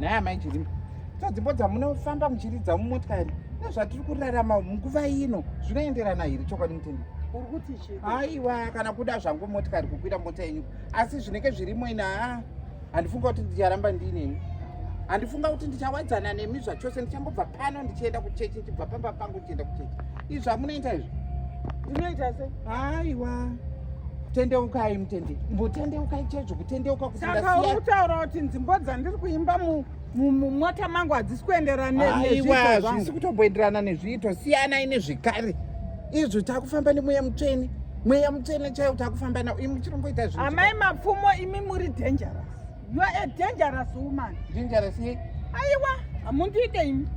naye amai chirimo so dzimbo dzamunofamba muchiridza mumotikari nezvatiri kurarama munguva ino zvinoenderana here chokwadi mutende aiwa kana kuda zvangu motikari kukwira mota yenyu asi zvinenge zvirimo ina haa handifunga kuti ndicharamba ndiineni handifunga kuti ndichawadzana nemi zvachose ndichangobva pano ndichienda kuchechi ndichibva pamba pangu ndichienda kuchechi izvi zvamunoita izvi ndinoita se aiwa tendeukai mutende mbotendeukai chaizvo kutendeuka kusaka uri kutaura kuti nzimbo dzandiri kuimba mu mumota mangu hadzisi kuenderana nezviitwa zvisi kutomboenderana nezviitwa siyanai nezvikare izvi takufamba nemweya mutsvene mweya mutsvene chaiwo takufamba nao imi muchirongoita zvi amai mapfumo imi muri dangerous You are a dangerous woman. Dangerous ye? Aiwa, hamundiite imi.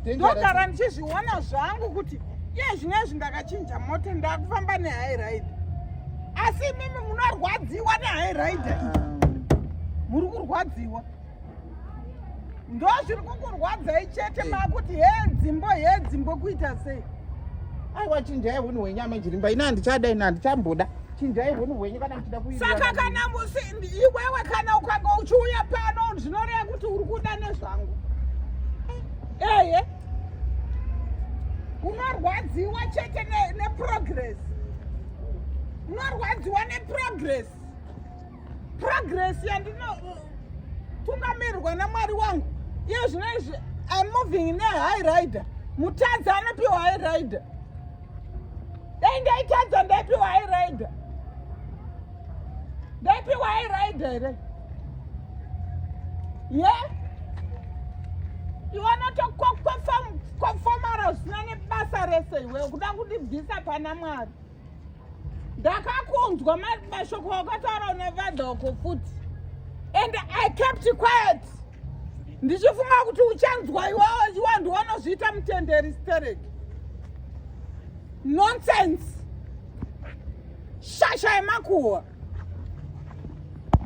Ndogara ndichizviona zvangu kuti iye zvine izvi ndakachinja mota ndakufamba nehigh ride. Asi imimi munorwadziwa nehigh ride iyi. Muri kurwadziwa. Ndo zviri kukurwadzai chete makuti he dzimbo he dzimbo kuita sei? Aiwa chinjai hunhu hwenyama jirimba. Ini handichada ini handichamboda. chinjai hunhu hwenyu kana muchida kuisaka kana iwewe kana ukanga uchiuya pano zvinoreva kuti uri kuda nezvangu eye unorwadziwa chete neprogress unorwadziwa neprogress progress yandinotungamirwa namwari wangu iye zvino izvi imoving nehigh rider mutadzi anopiwa high rider dai ndaitadza ndaipiwa airaida ndaipiwa airaida here ye iwana tokwafomara zvisina nebasa rese iwe kuda kundibvisa pana mwari ndakakunzwa mashoko akataura nevadhoko futi and i kept quiet ndichifunga kuti uchanzwa iwawo iwa ndiwanozviita mutenderi stereki nonsense shasha yemakuhwa